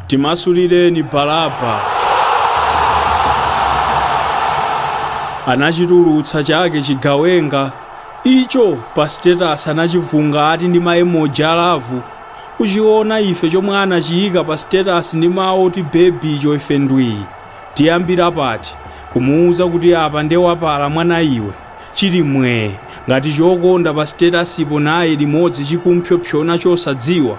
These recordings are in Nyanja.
Timasulireni Baraba. Anachitulutsa chake chigawenga icho pa status anachivunga ati ndi ma emoji a love. Kuchiona ife chomwe anachiyika pa status ndi mawu oti baby icho ife ndwii. Tiyambira pati? Kumuuza kuti apa nde wapala mwana iwe? Chili mwee ngati chokonda pa status po naye limodzi chikumphyophyona chosadziwa?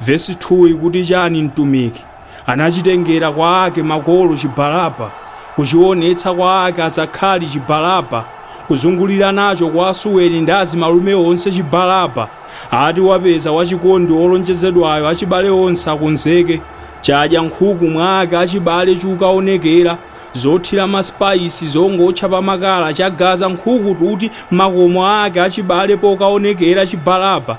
Vesi 2 ikuti chani mtumiki anachitengera kwa ake makolo chibalaba kuchionetsa kwa ake azakhali chibalaba kuzungulira nacho kwa asuweni ndi azimalume onse chibalaba ati wapeza wachikondi olonjezedwayo achibale onse akonzeke chadya nkhuku mwa ake achibale chokaonekera zothira ma spice zongootcha pa makala chagaza nkhuku tuti makomo ake achibale pokaonekera chibalaba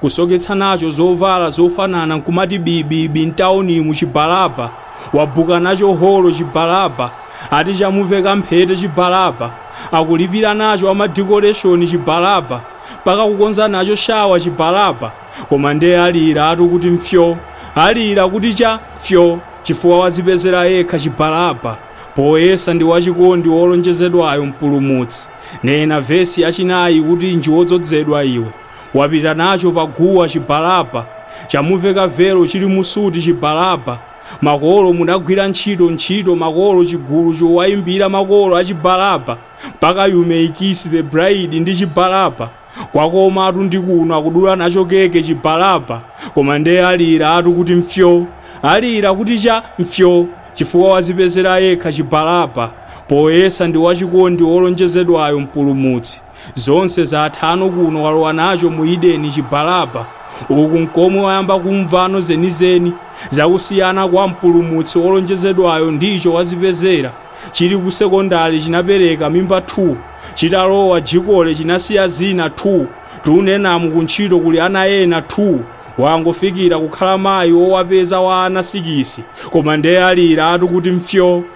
kusoketsa nacho zovala zofanana nkumati bibibi mtaunimu chibalaba, wabuka nacho holo chibalaba, ati chamuveka mphete chibalaba, akulipira nacho a madecoration chibalaba, mpaka kukonza nacho shawa chibalaba, koma nde aliratu kuti mfyo, alira kuti cha mfyo chifukwa wazipezera yekha chibalaba poyesa ndi wachikondi wolonjezedwayo mpulumutsi, nena vesi yachinayi ikutinji wodzodzedwa iwe. wapita nacho pa guwa chibalaba chamuveka velo chili mu suti chibalaba makolo munagwira ntchito ntchito makolo chigulu chowayimbira makolo achibalaba mpaka you may kiss the bride ndi chibalaba kwakomatu ndi kuno akudula nacho keke chibalaba koma nde aliratu kuti mfyo alira kuti cha mfyo chifukwa wazipezera yekha chibalaba poyesa ndi wachikondi wolonjezedwayo mpulumutsi Zonse zathano kuno walowa nacho mu Eden chibalaba uku nkomwe wayamba kumvano zenizeni za kusiyana kwa mpulumutsi olonjezedwayo ndi icho wazipezera chili ku sekondale chinapereka mimba 2 chitalowa jikole chinasiya zina 2 tunenamu ku ntchito kuli ana ena 2 wangofikira kukhala mayi owapeza wa ana sikisi koma nde aliratu kuti mfyo